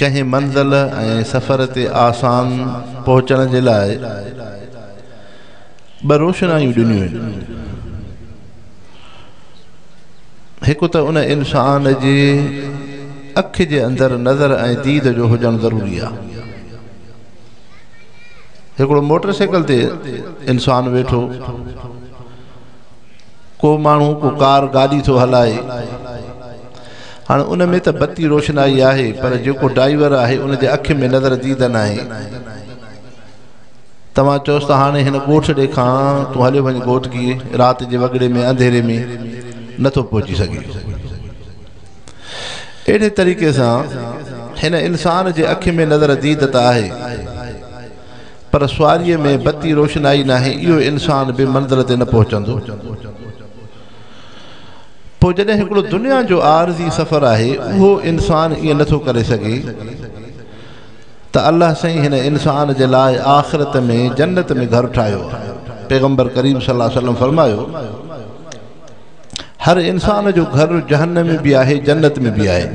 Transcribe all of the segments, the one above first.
ڪنهن منزل ۽ سفر تي آسان پهچڻ جي لاء ٻه روشنايون ڏنيون آهن. هڪ ته ان انسان جي اک جي اندر نظر ۽ ديد جو هجڻ ضروري آهي. هڪڙو موٽر سائيڪل تي انسان ويٺو، ڪو ماڻهو ڪو ڪار گاڏي ٿو هلائي، هاڻ ان ۾ ته بتي روشنائي آهي پر جيڪو ڊائيور آهي ان جي اکين ۾ نظر ديده ناهي. توهان چئوس ته هاڻي هن ڳوٺ ڏي کان تون هليو وڃ گهوٽڪي رات جي وڳڙي ۾ انڌيري ۾ نه ٿو پهچي سگهي. اهڙي طريقي سان هن انسان جي اکين ۾ نظر ديده ته آهي پر سواريء ۾ بتي روشنائي ناهي اهو انسان به منزل تي نه پهچندو. پوء جڏهن هڪڙو دنيا جو عارضي سفر آهي اهو انسان ائين نه ٿو ڪري سگهي ته الله سائين هن انسان جي لاء آخرت ۾ جنت ۾ گهر ٺاهيو آهي پيغمبر ڪريم صلي الله عليه وسلم فرمايو هر انسان جو گهر جهنم ۾ به آهي جنت ۾ به آهي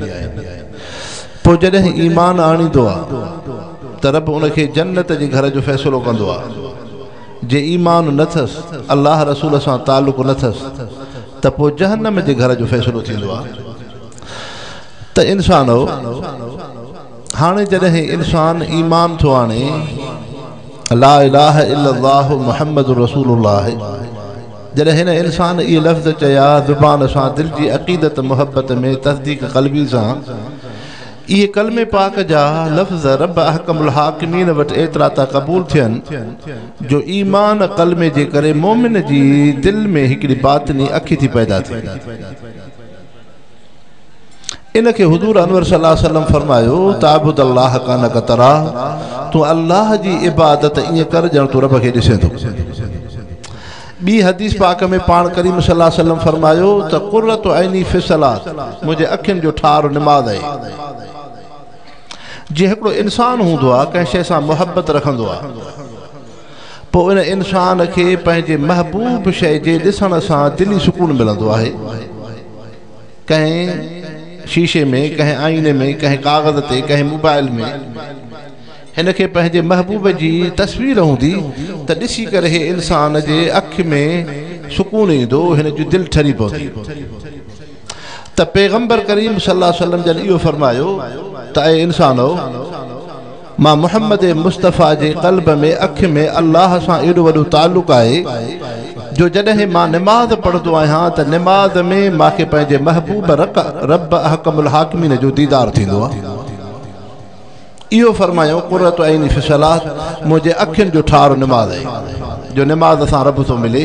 پوء جڏهن ايمان آڻيندو آهي ته رب ان کي جنت جي گهر جو فيصلو ڪندو آهي جي ايمان نه ٿس الله رسول سان تعلق نه ٿس ته پوء جهنم جي گهر جو فيصلو ٿيندو آهي ته انسانو هاڻي جڏهن انسان ايمان ٿو آڻي لا اله الا الله محمد رسول الله جڏهن هن انسان اهي لفظ چيا زبان سان دل جي عقيدت محبت ۾ تصديق قلبي سان اهي ڪلمي پاڪ جا لفظ رب احڪم الحاڪمين وٽ ايترا ٿا قبول ٿين جو ايمان ڪلمي جي ڪري مؤمن جي دل ۾ هڪڙي باطني اکي ٿي پيدا ٿئي. ان کي حضور انور صلي الله عليه وسلم فرمايو تعبد الله ڪانڪ تراه تون الله جي عبادت ائين ڪر ڄڻ تون رب کي ڏسين ٿو. ٻي حديث پاڪ ۾ پاڻ ڪريم صلي الله عليه وسلم فرمايو ته قرة عيني في الصلاة منهنجي اکين جو ٺار نماز آهي. جيئن هڪڙو انسان هوندو آهي ڪنهن شيء سان محبت رکندو آهي پوء ان انسان کي پنهنجي محبوب شيء جي ڏسڻ سان دلي سڪون ملندو آهي ڪنهن شيشي ۾ ڪنهن آئيني ۾ ڪنهن ڪاغذ تي ڪنهن موبائل ۾ هن کي پنهنجي محبوب جي تصوير هوندي ته ڏسي ڪري هي انسان جي اک ۾ سڪون ايندو، هن جي دل ٺري پوندي ته پيغمبر ڪريم صلي الله عليه وسلم جن اهو فرمايو ته اي انسانؤ! مان محمد مصطفيٰ جي قلب ۾ اک ۾ الله سان ايڏو وڏو تعلق آهي جو جڏهن مان نماز پڙهندو آهيان ته نماز ۾ مان کي پنهنجي محبوب رڪ رب احڪم الحاڪمين جو ديدار ٿيندو آهي. اهو فرمايائون قرة عيني في الصلاة منهنجي اکين جو ٺار نماز آهي جو نماز سان رب ٿو ملي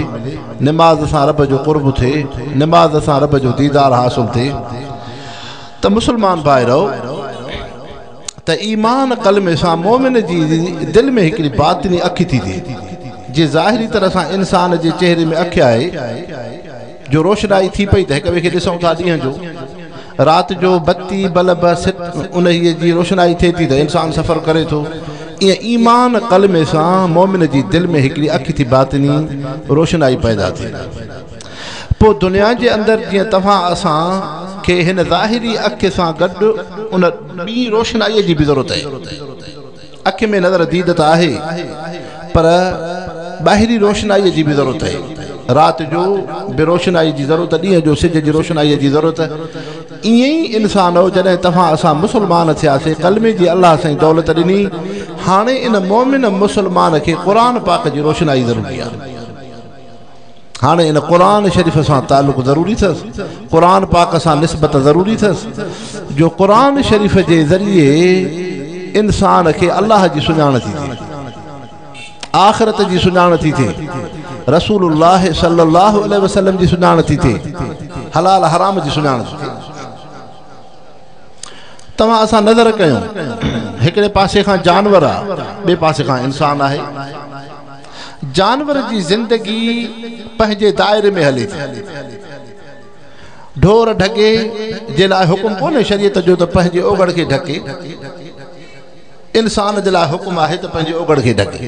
نماز سان رب جو قرب ٿئي نماز سان رب جو ديدار حاصل ٿئي ته مسلمان ڀائرؤ ته ايمان ڪلمي سان مؤمن جي دل ۾ هڪڙي باطني اک ٿي ٿئي جي ظاهري طرح سان انسان جي چهري ۾ اک آهي جو روشنائي ٿي پئي ته هڪ ٻئي کي ڏسون ٿا ڏينهن جو رات جو بتي بلب ست انهي جي روشنائي ٿئي ٿي ته انسان سفر ڪري ٿو ايئن ايمان ڪلمي سان مؤمن جي دل ۾ هڪڙي اکي ٿي باطني روشنائي پيدا ٿئي پوء دنيا جي اندر جيئن توهان اسان کي هن ظاهري اکي سان گڏ ان ٻي روشنائي جي به ضرورت آهي اک ۾ نظر ديد ته آهي پر ٻاهرين روشنائيء جي به ضرورت آهي. رات جو به روشنائيء جي ضرورت، ڏينهن جو سج جي روشنائيء جي ضرورت. ائين ئي انسانؤ جڏهن توهان اسان مسلمان ٿياسي، ڪلمي جي الله سائين دولت ڏني، هاڻي ان مؤمن مسلمان کي قرآن پاڪ جي روشنائي ضروري آهي. هاڻي ان قرآن شريف سان تعلق ضروري ٿس قرآن پاڪ سان نسبت ضروري ٿس جو قرآن شريف جي ذريعي انسان کي الله جي سڃاڻ ٿي ٿي آخرت جي سڃاڻ ٿي ٿي رسول الله صلي الله عليه وسلم جي سڃاڻ ٿي ٿي حلال حرام جي سڃاڻ ٿي ٿي توهان اسان نظر ڪيون هڪڙي پاسي کان جانور آ ٻي پاسي کان انسان آهي جانور جي زندگي پنهنجي دائري ۾ هلي ٿي. ڍور ڍڳي جي لاء حڪم ڪونهي شريعت جو ته پنهنجي اوگهڙ کي ڍڪي. انسان جي لاء حڪم آهي ته پنهنجي اوگهڙ کي ڍڪي.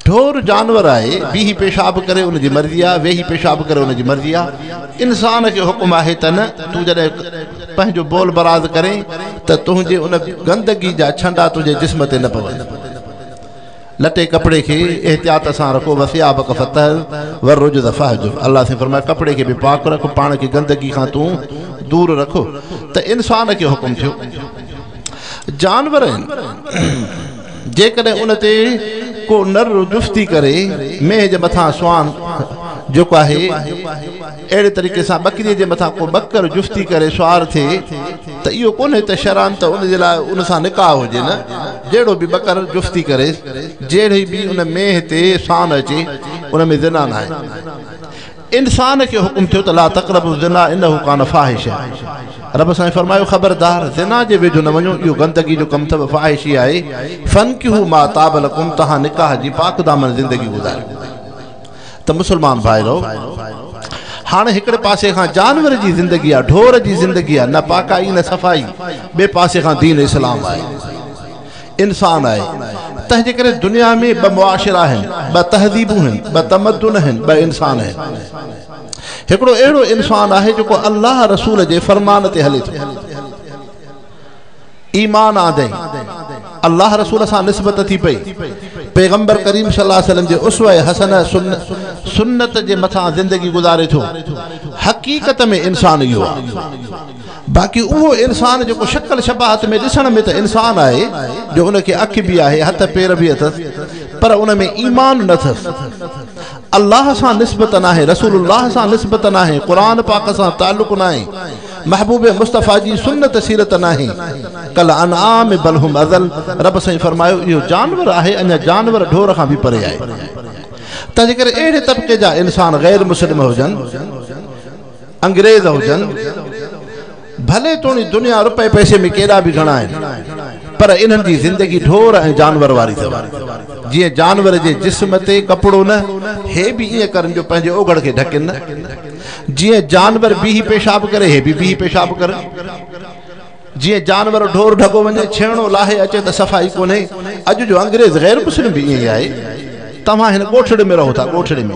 ڍور جانور آهي، بيهي پيشاب ڪري ان جي مرضي آهي، ويهي پيشاب ڪري ان جي مرضي آهي. انسان کي حڪم آهي ته نه، تون جڏهن پنهنجو بول براز ڪرين ته تنهنجي ان گندگي جا ڇنڊا تنهنجي جسم تي نه پون. لٽي ڪپڙي کي احتياط سان رکو وثيابک فطهر والرجز فاهجر الله سائين فرمايو ڪپڙي کي به پاڪ رک پاڻ کي گندگي کان تون دور رک ته انسان کي حڪم ٿيو جانور آهن جيڪڏهن ان تي ڪو نر جفتي ڪري مينهن جي مٿان سوان جيڪو آهي اهڙي طريقي سان ٻڪريء جي مٿان ڪو ٻڪر جفتي ڪري سوار ٿئي ته اهو ڪونهي ته شرعاً ته ان جي لاء ان سان نڪاح هجي نه جهڙو به ٻڪر جفتي ڪري جهڙي به ان مينهن تي سان اچي ان ۾ زنا ناهي انسان کي حڪم ٿيو ته لا تقربوا الزنا انه ڪان فاحشا رب سائين فرمايو خبردار زنا جي ويجهو نه وڃو اهو گندگي جو ڪم اٿو فاحشي آهي فنڪحوا ما طاب لڪم توهان نڪاح جي پاڪ دامن زندگي گذاريو ته مسلمان ڀائرو! هاڻ هڪڙي پاسي کان جانور جي زندگي آ، ڍور جي زندگي آ، نه پاڪائي نه صفائي، ٻئي پاسي کان دين اسلام آهي، انسان آهي، تنهنجي ڪري دنيا ۾ ٻه معاشرا آهن، ٻه تهذيبون هن، ٻه تمدن هن، ٻه انسان هن. هڪڙو اهڙو انسان آهي جيڪو الله رسول جي فرمان تي هلي ٿو. ايمان آندئين، الله رسول سان نسبت ٿي پئي، پيغمبر ڪريم صلي الله عليه وسلم جي اسوه حسنه، سنت، جي مٿان زندگي گذاري ٿو. حقيقت ۾ انسان اهو آهي. باقي اهو انسان جيڪو شڪل شباهت ۾ ڏسڻ ۾ ته انسان آهي جو ان کي اک به آهي، هٿ پير به اٿس پر ان ۾ ايمان نه اٿس. الله سان نسبت ناهي، رسول الله سان نسبت ناهي، قرآن پاڪ سان تعلق ناهي. محبوب مصطفيٰ جي سنت سيرت ناهي ڪالانعام بل هم اضل رب سائين فرمايو اهو جانور آهي اڃا جانور ڍور کان به پري آهي تنهن جي ڪري اهڙي طبقي جا انسان غير مسلم هجن انگريز هجن ڀلي توڻي دنيا روپئي پئسي ۾ ڪيڏا به گهڻا آهن پر انهن جي زندگي ڍور ۽ جانور واري اٿو جيئن جانور جي جسم تي ڪپڙو نه هي به ائين ڪرن جو پنهنجي اوگهڙ کي ڍڪين نه جيئن جانور بيهي پيشاب ڪري هي به بيهي پيشاب ڪرن جيئن جانور ڍور ڍڳو وڃي ڇيڻو لاهي اچي ته صفائي ڪونهي اڄ جو انگريز غير مسلم به ائين ئي آهي توهان هن ڳوٺڙي ۾ رهو ٿا ڳوٺڙي ۾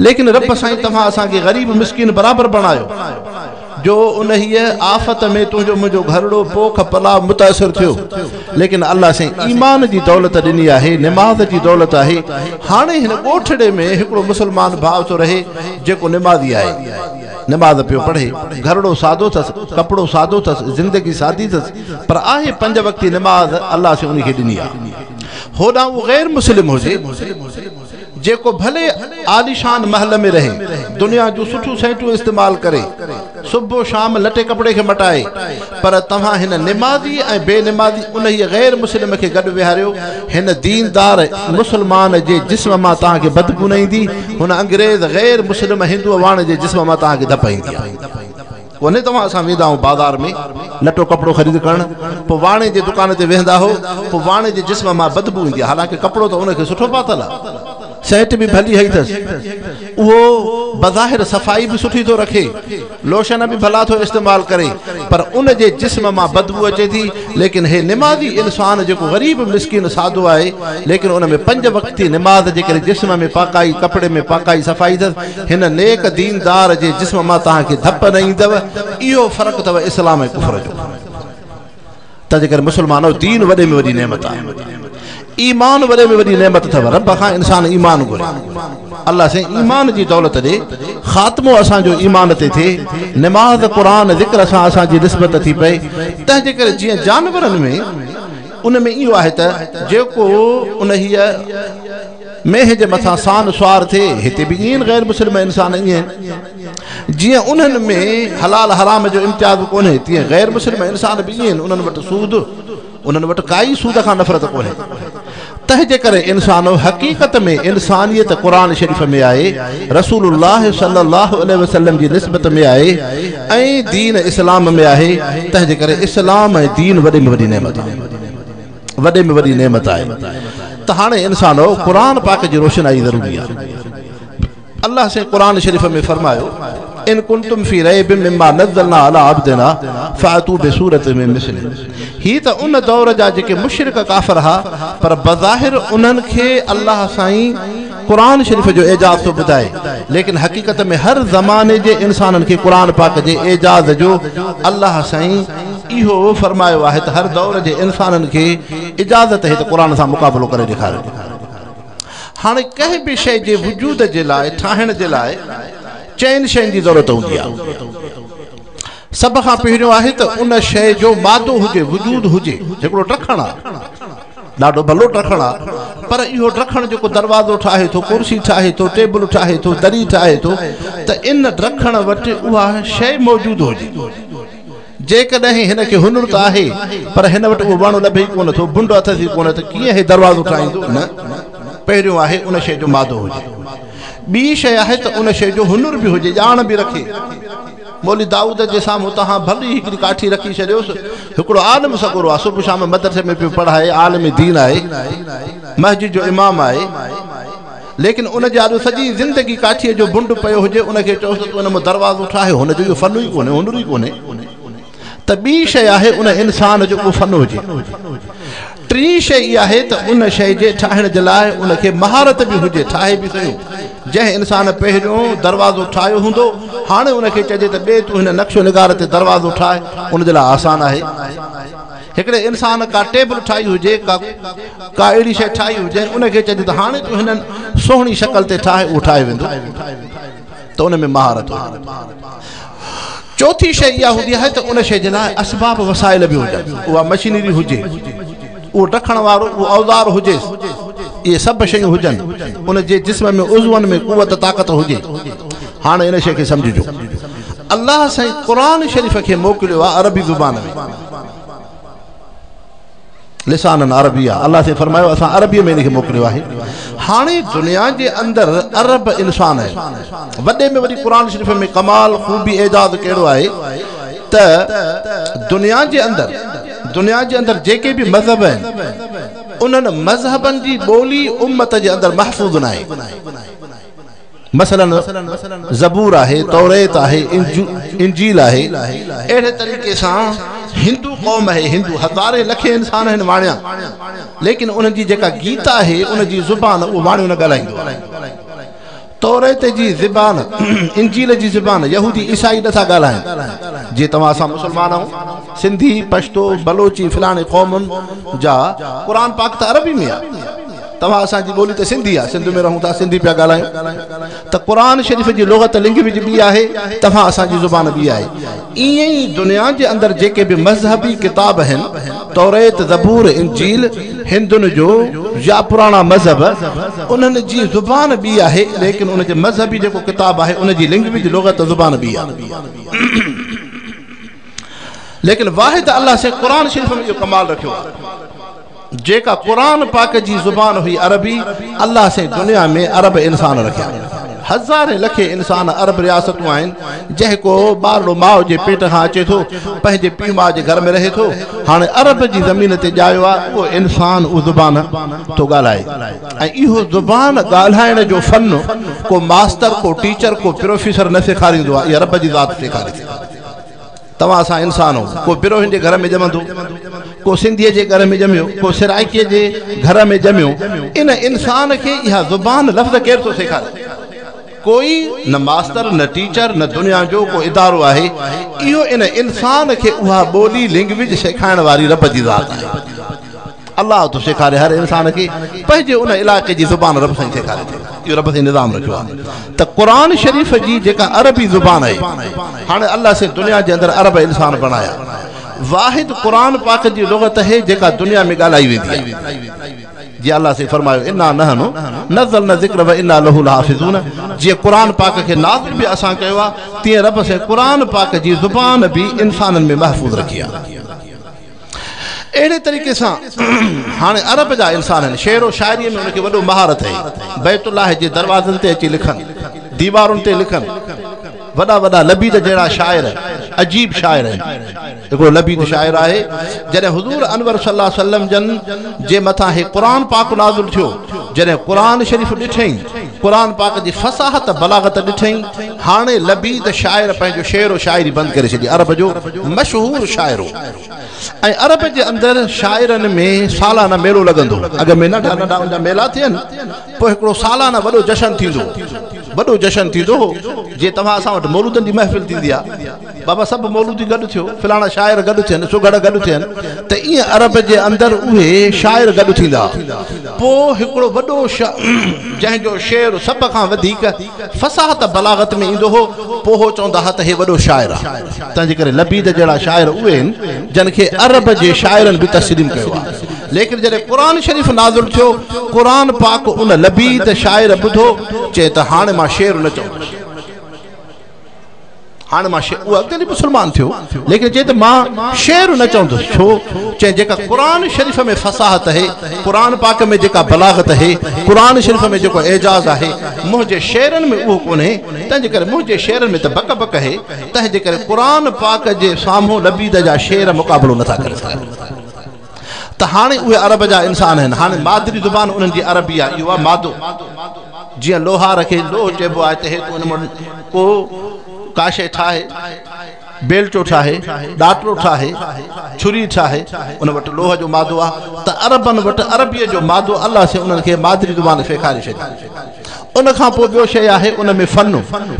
ليڪن رب سائين توهان اسان کي غريب مسڪين برابر بڻايو جو انهيء آفت ۾ تنهنجو منهنجو گهرڙو پوک پلاء متاثر ٿيو، ليڪن الله سائين ايمان جي دولت ڏني آهي، نماز جي دولت آهي، هاڻي هن ڳوٺڙي ۾ هڪڙو مسلمان ڀاء ٿو رهي، جيڪو نمازي آهي، نماز پيو پڙهي، گهرڙو سادو ٿس، ڪپڙو سادو ٿس، زندگي سادي ٿس، پر آهي پنج وقتي نماز الله سائين انهي کي ڏني آهي. هوڏانهن اهو غير مسلم هجي. جيڪو ڀلي عاليشان محل ۾ رهي، دنيا جون سٺيون سهٽون استعمال ڪري، صبح و شام لٽي ڪپڙي کي مٽائي، پر توهان هن نمازي ۽ بي نمازي انهيء غير مسلم کي گڏ ويهاريو، هن ديندار مسلمان جي جسم مان توهان کي بدبو نه ايندي، هن انگريز غير مسلم هندوء واڻ جي جسم مان توهان کي ڌپ ايندي. ڪونهي توهان سان ويندا آهو بازار ۾ لٽو ڪپڙو خريد ڪرڻ پوء واڻي جي دڪان تي ويهندا آهو پوء واڻي جي جسم مان بدبو ايندي آهي حالانڪه ڪپڙو ته ان کي سٺو پاتل آهي سينٽ به ڀلي هئي اٿس اهو بظاهر صفائي به سٺي ٿو رکي لوشن به ڀلا ٿو استعمال ڪري پر ان جي جسم مان بدبو اچي ٿي ليڪن هي نمازي انسان جيڪو غريب مسڪين سادو آهي ليڪن ان ۾ پنج وقتي نماز جي ڪري جسم ۾ پاڪائي ڪپڙي ۾ پاڪائي صفائي اٿس هن نيڪ ديندار جي جسم مان توهان کي ڌپ نه ايندو اهو فرق اٿو اسلام ۽ ڪفر جو تنهنجي ڪري مسلمانو دين وڏي ۾ وڏي نعمت آهي ايمان وڏي ۾ وڏي نعمت اٿو رب کان انسان ايمان گهري الله سين ايمان جي دولت ڏي خاتمو اسان جو ايمان تي ٿي نماز قرآن ذڪر سان اسان جي نسبت ٿي پئي تنهنجي ڪري جيئن جانورن ۾ ان ۾ اهو آهي ته جيڪو ان هي مينهن جي مٿان سان سوار ٿئي هتي به ائين غير مسلم انسان ائين آهن جيئن انهن ۾ حلال حرام جو امتياز ڪونهي تيئن غير مسلم انسان به ائين انهن وٽ سود انهن وٽ ڪائي سود کان نفرت ڪونهي تنهنجي ڪري انسانو حقيقت ۾ انسانيت قرآن شريف ۾ آهي رسول الله صلي الله عليه وسلم جي نسبت ۾ آهي ۽ دين اسلام ۾ آهي تنهنجي ڪري اسلام ۽ دين وڏي ۾ وڏي نعمت آهي وڏي ۾ وڏي نعمت آهي ته هاڻي انسانو قرآن پاڪ جي روشنائي ضروري آهي الله سائين قرآن شريف ۾ فرمايو ان ڪنتم في ريب مما نزلنا على عبدنا فاتو بسورت من مثل هي ته ان دور جا جيڪي مشرڪ ڪافر ها پر بظاهر انهن کي الله سائين قرآن شريف جو اعجاز ٿو ٻڌائي ليڪن حقيقت ۾ هر زماني جي انسانن کي قرآن پاڪ جي اعجاز جو الله سائين اهو فرمايو آهي ته هر دور جي انسانن کي اجازت هي ته قرآن سان مقابلو ڪري ڏيکاريو هاڻي ڪنهن به شيء جي وجود جي لاء ٺاهڻ جي لاء چئن شين جي ضرورت هوندي آهي سڀ کان پهريون آهي ته ان شيء جو مادو هجي وجود هجي هڪڙو ٽکڻ آهي ڏاڍو ڀلو ٽکڻ آ پر اهو ٽکڻ جيڪو دروازو ٺاهي ٿو ڪرسي ٺاهي ٿو ٽيبل ٺاهي ٿو دري ٺاهي ٿو ته ان ٽکڻ وٽ اها شيء موجود هجي جيڪڏهن هن کي هنر ته آهي پر هن وٽ اهو وڻ لڀي ئي ڪونه ٿو بنڊ اٿس ئي ڪونه ته ڪيئن هي دروازو ٺاهيندو نه پهريون آهي ان شيء جو مادو هجي ٻي شيء آهي ته ان شيء جو هنر به هجي ڄاڻ به رکي مولوي دائود جي سامهون توهان ڀلي هڪڙي ڪاٺي رکي ڇڏيوس. هڪڙو عالم سڳورو آهي، صبح شام مدرسي ۾ پيو پڙهائي، عالم دين آهي، مسجد جو امام آهي، ليڪن ان جي آڏو سڄي زندگي ڪاٺيء جو بنڊ پيو هجي، ان کي چئوس ته تون ان مان دروازو ٺاهه، هن جو اهو فن ئي ڪونهي، هنر ئي ڪونهي. ته ٻي شيء آهي ان انسان جو ڪو فن هجي. ٽين شيء اها آهي ته ان شيء جي ٺاهڻ جي لاء ان کي مهارت به هجي، ٺاهي به سهيو. جنهن انسان پهريون دروازو ٺاهيو هوندو، هاڻي ان کي چئجي ته ٻي تون هن نقش و نگار تي دروازو ٺاهه، ان جي لاء آسان آهي. هڪڙي انسان ڪا ٽيبل ٺاهي هجي، ڪا اهڙي شيء ٺاهي هجي، ان کي چئجي ته هاڻي تون هن سهڻي شڪل تي ٺاهه، اهو ٺاهيو ويندو. ته ان ۾ مهارت هجي. چوٿين شيء اها هوندي آهي ته ان شيء جي لاء اسباب وسائل به هجن. اها مشينري هجي، اهو ڊکڻ وارو اهو اوزار هجيس، اهي سڀ شيون هجن، ان جي جسم ۾ عضون ۾ قوت طاقت هجي. هاڻ ان شيء کي سمجهجو. الله سائين قرآن شريف کي موڪليو آهي عربي زبان ۾. لسانا عربيا، الله سائين فرمايو اسان عربيء ۾ ان کي موڪليو آهي. هاڻي دنيا جي اندر ارب انسان آهن. وڏي ۾ وڏي قرآن شريف ۾ ڪمال، خوبي، اعجاز ڪهڙو آهي ته دنيا جي اندر دنيا جي اندر جيڪي به مذهب آهن انهن مذهبن جي ٻولي امت جي اندر محفوظ ناهي. مثلاً زبور آهي، توريت آهي، انجيل آهي. اهڙي طريقي سان هندو قوم آهي، هندو هزارين لکين انسان آهن واڻيا، ليڪن انهن جي جيڪا گيتا آهي، ان جي زبان اهو واڻيو نه ڳالهائيندو آهي. توريت جي زبان، انجيل جي زبان يهودي عيسائي نه ٿا ڳالهائين. جي توهان اسان مسلمان آهون، سنڌي، پشتو، بلوچي فلاڻي قومن جا قرآن پاڪ ته عربي ۾ آهي. توهان اسان جي ٻولي ته سنڌي آهي سنڌ ۾ رهون ٿا سنڌي پيا ڳالهايون ته قرآن شريف جي لغت لينگويج ٻي آهي توهان اسان جي زبان ٻي آهي ائين ئي دنيا جي اندر جيڪي به مذهبي ڪتاب آهن توريت زبور انجيل هندن جو يا پراڻا مذهب انهن جي زبان ٻي آهي ليڪن ان جي مذهبي جيڪو ڪتاب آهي ان جي لينگويج لغت زبان ٻي آهي ليڪن واحد الله سي قرآن شريف ۾ اهو ڪمال رکيو آهي جيڪا قرآن پاڪ جي زبان هئي عربي، الله سين دنيا ۾ عرب انسان رکيا. هزارين لکين انسان عرب رياستون آهن جهڪو ٻارڙو ماء جي پيٽ کان اچي ٿو پنهنجي پيء ماء جي گهر ۾ رهي ٿو هاڻي عرب جي زمين تي ڄايو آهي اهو انسان اهو زبان ٿو ڳالهائي ۽ اهو زبان ڳالهائڻ جو فن ڪو ماستر ڪو ٽيچر ڪو پروفيسر نه سيکاريندو آهي اها رب جي ذات سيکاري ٿي. توهان اسان انسان هو ڪو بروهين جي گهر ۾ ڄمندو ڪو سنڌيء جي گهر ۾ ڄميو ڪو سرائڪيء جي گهر ۾ ڄميو ان انسان کي اها زبان لفظ ڪير ٿو سيکاري ڪوئي نه ماستر نه ٽيچر نه دنيا جو ڪو ادارو آهي اهو ان انسان کي اها ٻولي لينگويج سيکائڻ واري رب جي ذات آهي الله ٿو سيکاري هر انسان کي پنهنجي ان علائقي جي زبان رب سائين سيکاري ٿو اهو رب سائين نظام رکيو آهي ته قرآن شريف جي جيڪا عربي زبان آهي هاڻي الله سائين دنيا جي اندر عرب انسان بڻايا واحد قرآن پاڪ جي لغت آهي جيڪا دنيا ۾ ڳالهائي ويندي آهي جي الله سي فرمايو انا نحن نزلنا ذکر و انا له الحافظون جي قرآن پاڪ کي نازل به اسان ڪيو آ تي رب سي قرآن پاڪ جي زبان به انسانن ۾ محفوظ رکي آ اهڙي طريقي سان هاڻي عرب جا انسان آهن شعر و شاعريء ۾ ان کي وڏو مهارت هئي بيت الله جي دروازن تي اچي لکن ديوارن تي لکن وڏا وڏا لبيد جهڙا شاعر عجيب شاعر آهن هڪڙو لبيد شاعر آهي جڏهن حضور انور صلي الله عليه وسلم جن جي مٿان هي قرآن پاڪ نازل ٿيو جڏهن قرآن شريف ڏٺئي قرآن پاڪ جي فصاحت بلاغت ڏٺئي هاڻي لبيد شاعر پنهنجو شعر و شاعري بند ڪري ڇڏي عرب جو مشهور شاعر هو ۽ عرب جي اندر شاعرن ۾ سالانه ميلو لڳندو هو. اڳ ۾ ننڍا ننڍا ان جا ميلا ٿين، پوء هڪڙو سالانه وڏو جشن ٿيندو هو. وڏو جشن ٿيندو هو، جيئن توهان اسان وٽ مولودن جي محفل ٿيندي آ. بابا سڀ مولودي گڏ ٿيو، فلاڻا شاعر گڏ ٿين، سگهڙ گڏ ٿين ته ايئن عرب جي اندر اهي شاعر گڏ ٿيندا هئا. پوء هڪڙو وڏو شاعر جنهن جو شعر سڀ کان وڌيڪ فصاحت بلاغت ۾ ايندو هو، پوء هو چوندا هئا ته هي وڏو شاعر آ. تنهنجي ڪري لبيد جهڙا شاعر اهي آهن جن کي عرب جي شاعرن به تسليم ڪيو آهي ليڪن جڏهن قرآن شريف نازل ٿيو قرآن پاڪ ان لبيد شاعر ٻڌو چئي ته هاڻي مان شعر نه چوندس هاڻي مان شعر اهو اڳتي مسلمان ٿيو ليڪن چئي ته مان شعر نه چوندس ڇو چئي جيڪا قرآن شريف ۾ فصاحت آهي قرآن پاڪ ۾ جيڪا بلاغت آهي قرآن شريف ۾ جيڪو اعجاز آهي منهنجي شعرن ۾ اهو ڪونهي تنهنجي ڪري منهنجي شعرن ۾ ته بڪ بڪ آهي تنهنجي ڪري قرآن پاڪ جي سامهون لبيد جا شعر مقابلو نٿا ڪري سگهن ته هاڻي اهي عرب جا انسان آهن هاڻي مادري زبان انهن جي عربي آهي اهو آهي مادو جيئن لوهار کي لوهه چئبو آهي ته هي تو ان مان ڪو ڪا شيء ٺاهي بيلچو ٺاهي ڏاٽرو ٺاهي ڇري ٺاهي ان وٽ لوهه جو مادو آهي ته عربن وٽ عربيء جو مادو الله سين انهن کي مادري زبان سيکاري ڇڏي ان کان پوء ٻيو شيء آهي ان ۾ فن،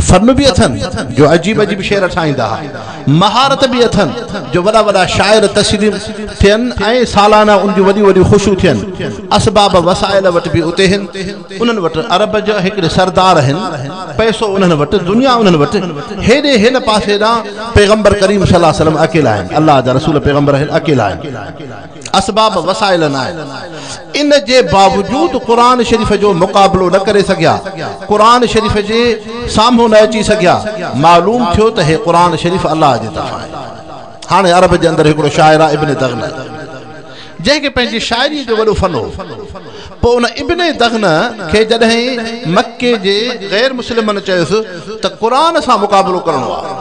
فن به اٿن جو عجيب عجيب شعر ٺاهيندا ها، مهارت به اٿن جو وڏا وڏا شاعر تسليم ٿين ۽ سالانه ان جون وڏيون وڏيون خوشيون ٿين، اسباب وسائل وٽ به اتي هن، انهن وٽ عرب جا هڪڙي سردار هن، پئسو انهن وٽ، دنيا انهن وٽ، هيڏي هن پاسي ڏانهن پيغمبر ڪريم صلي الله عليه وسلم اڪيلا آهن، الله جا رسول پيغمبر هن اڪيلا آهن. اسباب وسائل نه آهن ان جي باوجود قرآن شريف جو مقابلو نه ڪري سگهيا قرآن شريف جي سامهون نه اچي سگهيا معلوم ٿيو ته هي قرآن شريف الله جي طرفان آهي هاڻي عرب جي اندر هڪڙو شاعر آهي ابن دغنه جنهن کي پنهنجي شاعري جو وڏو فن هو پوء ان ابن دغنه کي جڏهن مڪي جي غير مسلمن چيس ته قرآن سان مقابلو ڪرڻو آهي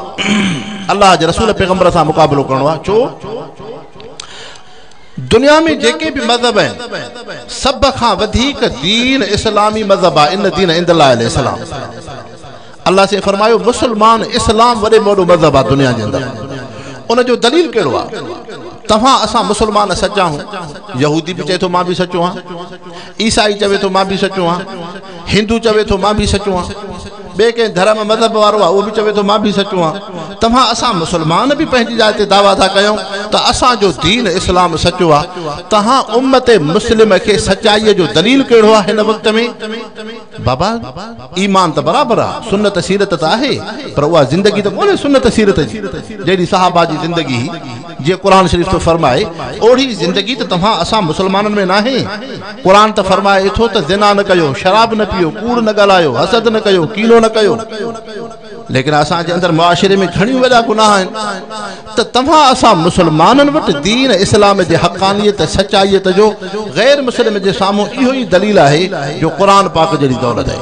الله جي رسول پيغمبر سان مقابلو ڪرڻو آهي ڇو دنيا ۾ جيڪي به مذهب آهن سڀ کان وڌيڪ دين اسلامي مذهب آهي ان دين عند الله الاسلام الله سي فرمايو مسلمان اسلام وڏي موڏو مذهب آهي دنيا جي اندر ان جو دليل کيڙو آهي تفا اسا مسلمان سچا هون يهودي به چي ٿو مان به سچو هان عيسائي چوي ٿو مان به سچو هان هندو چوي ٿو مان به سچو آهيان، ٻئي ڪنهن ڌرم مذهب وارو آهي اهو به چوي ٿو مان به سچو آهيان. توهان اسان مسلمان به پنهنجي جاء تي دعويٰ ٿا ڪيون ته اسان جو دين اسلام سچو آهي، توهان امت مسلمه کي سچائيء جو دليل ڪهڙو آهي هن وقت ۾؟ بابا! ايمان ته برابر آهي، سنت سيرت ته آهي، پر اها زندگي ته ڪونهي سنت سيرت جي، جهڙي صحابه جي زندگي هئي. جيئن قرآن شريف ٿو فرمائي، اوڙي زندگي ته توهان اسان مسلمانن ۾ ناهي. قرآن ته فرمائي ٿو ته زنا نه ڪيو، شراب نه پيئو، ڪوڙ نه ڳالهايو، حسد نه ڪيو، ڪينو نه ڪيو. ليڪن اسان جي اندر معاشري ۾ گهڻيون وڏا گناهه آهن ته توهان اسان مسلمانن وٽ دين اسلام جي حقانيت ۽ سچائيت جو غير مسلم جي سامهون اهو ئي دليل آهي جو قرآن پاڪ جهڙي دولت آهي.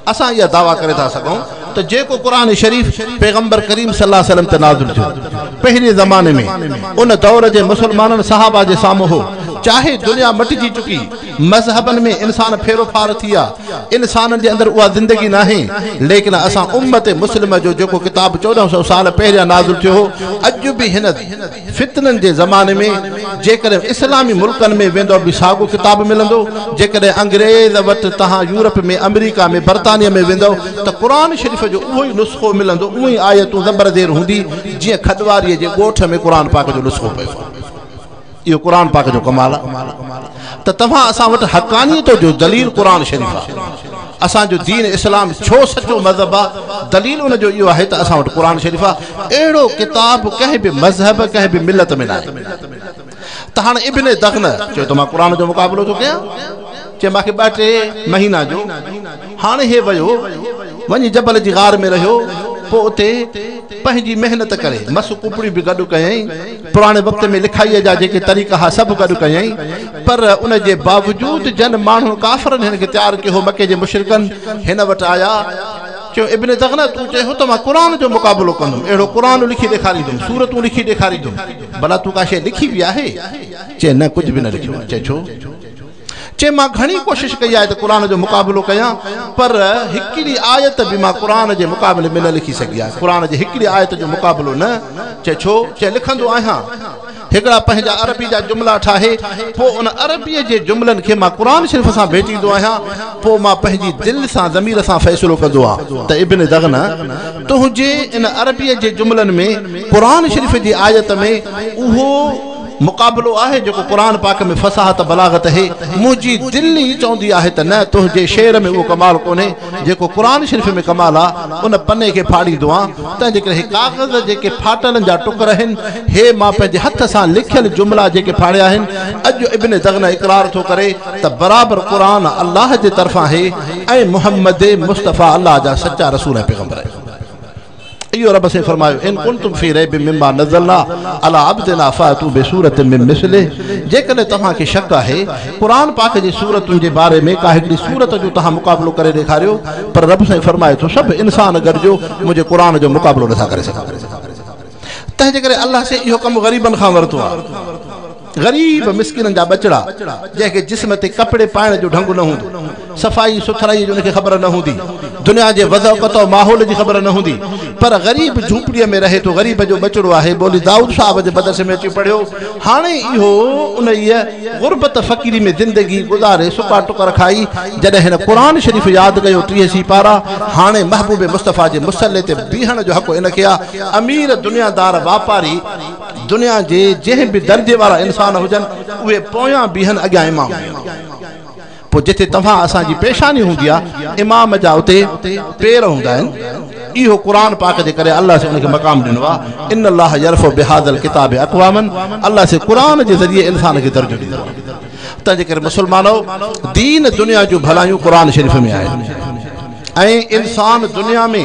اسان اها دعويٰ ڪري ٿا سگهون ته جيڪو قرآن شريف پيغمبر ڪريم صلي الله عليه وسلم تي نازل ٿيو، پهرين زماني ۾ ان دور جي مسلمانن صحابه جي سامهون هو، چاهي دنيا مٽجي چڪي، مذهبن ۾ انسان ڦيرو ڦار ٿيا، انسانن جي اندر اها زندگي ناهي، ليڪن اسان امت مسلمه جو جيڪو ڪتاب چوڏهن سؤ سال پهريان نازل ٿيو هو، اڄ به هن. فتنن جي زماني ۾ جيڪڏهن اسلامي ملڪن ۾ ويندؤ به ساڳو ڪتاب ملندو، جيڪڏهن انگريز وٽ تهان يورپ ۾ آمريڪا ۾ برطانيه ۾ ويندؤ ته قرآن شريف جو اهو ئي نسخو ملندو اهي ئي آيتون زبر زير هوندي جيئن کڏواري جي ڳوٺ ۾ قرآن پاڪ جو نسخو پيو آهي. اهو قرآن پاڪ جو ڪمال آهي ته توهان اسان وٽ حقانيت جو دليل قرآن شريف آهي. اسان جو دين اسلام ڇو سچو مذهب آ؟ دليل ان جو اهو آهي ته اسان وٽ قرآن شريف آ. اهڙو ڪتاب ڪنهن به مذهب، ڪنهن به ملت ۾ ناهي. ته هاڻ ابن دغنه چيو ته مان قرآن جو مقابلو ٿو ڪيان. چي مان کي ٻه ٽي مهينا ڏيو. هاڻ هي ويو، وڃي جبل جي غار ۾ رهيو، پوء اتي پنهنجي محنت ڪري مس ڪپڙيون به گڏ ڪيائين. پراڻي وقت ۾ لکائيء جا جيڪي طريقا ها سڀ گڏ ڪيائين، پر ان جي باوجود جن ماڻهن ڪافرن هن کي تيار ڪيو هو، مڪي جي مشرڪن هن وٽ آيا، چيو، ابن دغنه تون چئين هو ته مان قرآن جو مقابلو ڪندم، اهڙو قرآن لکي ڏيکاريندم، سورتون لکي ڏيکاريندم، ڀلا تون ڪا شيء لکي به آهي؟ چئي، نه ڪجهه به نه لکيو آهي، چئي، ڇو؟ چي مان گهڻي ڪوشش ڪئي آهي ته قرآن جو مقابلو ڪيان پر هڪڙي آيت به مان قرآن جي مقابلي ۾ نه لکي سگهي آهي قرآن جي هڪڙي آيت جو مقابلو نه چي ڇو چي لکندو آهيان هڪڙا پنهنجا عربي جا جملا ٺاهي پو ان عربي جي جملن کي مان قرآن شريف سان ڀيٽيندو آهيان پو مان پنهنجي دل سان ضمير سان فيصلو ڪندو آهيان ته ابن دغنه تنهنجي ان عربي جي جملن ۾ قرآن شريف جي آيت ۾ اهو مقابلو آهي جيڪو قرآن پاڪ ۾ فصاحت بلاغت هي منهنجي دل ئي چوندي آهي ته نه تنهنجي شعر ۾ اهو ڪمال ڪونهي جيڪو قرآن شريف ۾ ڪمال آ ان پني کي ڦاڙيندو آن تنهنجي ڪري هي ڪاغذ جيڪي ڦاٽلن جا ٽڪر هن هي مان پنهنجي هٿ سان لکيل جملا جيڪي ڦاڙيا هن اڄ ابن دغنه اقرار ٿو ڪري ته برابر قرآن الله جي طرفان هي ۽ محمد مصطفيٰ الله جا سچا رسول ۽ پيغمبر آهن. اهو رب سين فرمايو، ان ڪنتم في ريب مما نزلنا علي عبدنا فاتو بسورة من مثله جيڪڏهن توهان کي شڪ آهي قرآن پاڪ جي سورتن جي باري ۾ ڪا هڪڙي سورت جو توهان مقابلو ڪري ڏيکاريو پر رب سائين فرمائي ٿو سڀ انسان گڏجو منهنجي قرآن جو مقابلو نٿا ڪري سگهن تنهنجي ڪري الله سين اهو ڪم غريبن کان ورتو آهي. غريب مسڪينن جا ٻچڙا جنهن کي جسم تي ڪپڙي پائڻ جو ڍنگ نه هوندو، صفائي سٿرائي جي ان کي خبر نه هوندي، دنيا جي وضع وقت ۽ ماحول جي خبر نه هوندي پر غريب جهوپڙي ۾ رهي ٿو غريب جو ٻچڙو آهي مولوي دائود صاحب جي مدرسي ۾ اچي پڙهيو هاڻي اهو انهيء غربت فقيري ۾ زندگي گذاري سڪا ٽڪر کائي جڏهن هن قرآن شريف ياد ڪيو ٽيهه سيپارا هاڻي محبوب مصطفيٰ جي مصلي تي بيهڻ جو حق ان کي آ امير دنيا دار واپاري دنيا جي جنهن به درجي وارا انسان هجن اهي پويان بيهن اڳيان امام بيهن پوء جتي توهان اسان جي پيشاني هوندي آ امام جا اتي پير هوندا آهن اهو قرآن پاڪ جي ڪري الله سي ان کي مقام ڏنو آ ان الله يرفع بهذا الڪتاب اقواما الله سي قرآن جي ذريعي انسان کي درجو ڏيندو آ تنهن جي ڪري مسلمانو دين دنيا جون ڀلايون قرآن شريف ۾ آهن ۽ انسان دنيا ۾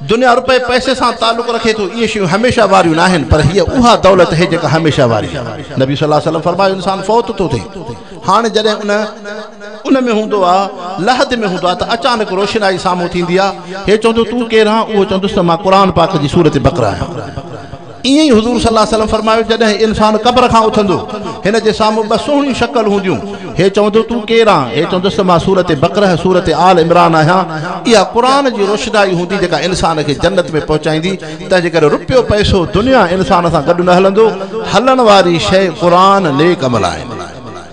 دنيا روپي پئسي سان تعلق رکي ٿو اهي شيون هميشه واريون ناهن پر هيء اها دولت هي جيڪا هميشه واري آهي نبي صلي الله عليه وسلم فرمايو انسان فوت ٿو ٿئي هاڻي جڏهن ان ان ۾ هوندو آهي لحد ۾ هوندو آهي ته اچانڪ روشنائي سامهون ٿيندي آهي هي چوندو تون ڪير آهين اهو چوندس ته مان قرآن پاڪ جي سورة بقره آهيان ائين ئي حضور صلي الله عليه وسلم فرمايو جڏهن انسان قبر کان اٿندو هن جي سامهون ٻه سهڻيون شڪل هونديون هي چوندو تون ڪير آن؟ هي چوندس ته مان سورة بقره، سورة آل عمران، آهيان اها قرآن جي روشنائي هوندي جيڪا انسان کي جنت ۾ پهچائيندي تنهنجي ڪري رپيو پئسو دنيا انسان سان گڏ نه هلندو هلڻ واري شيء قرآن نيڪ عمل آهن.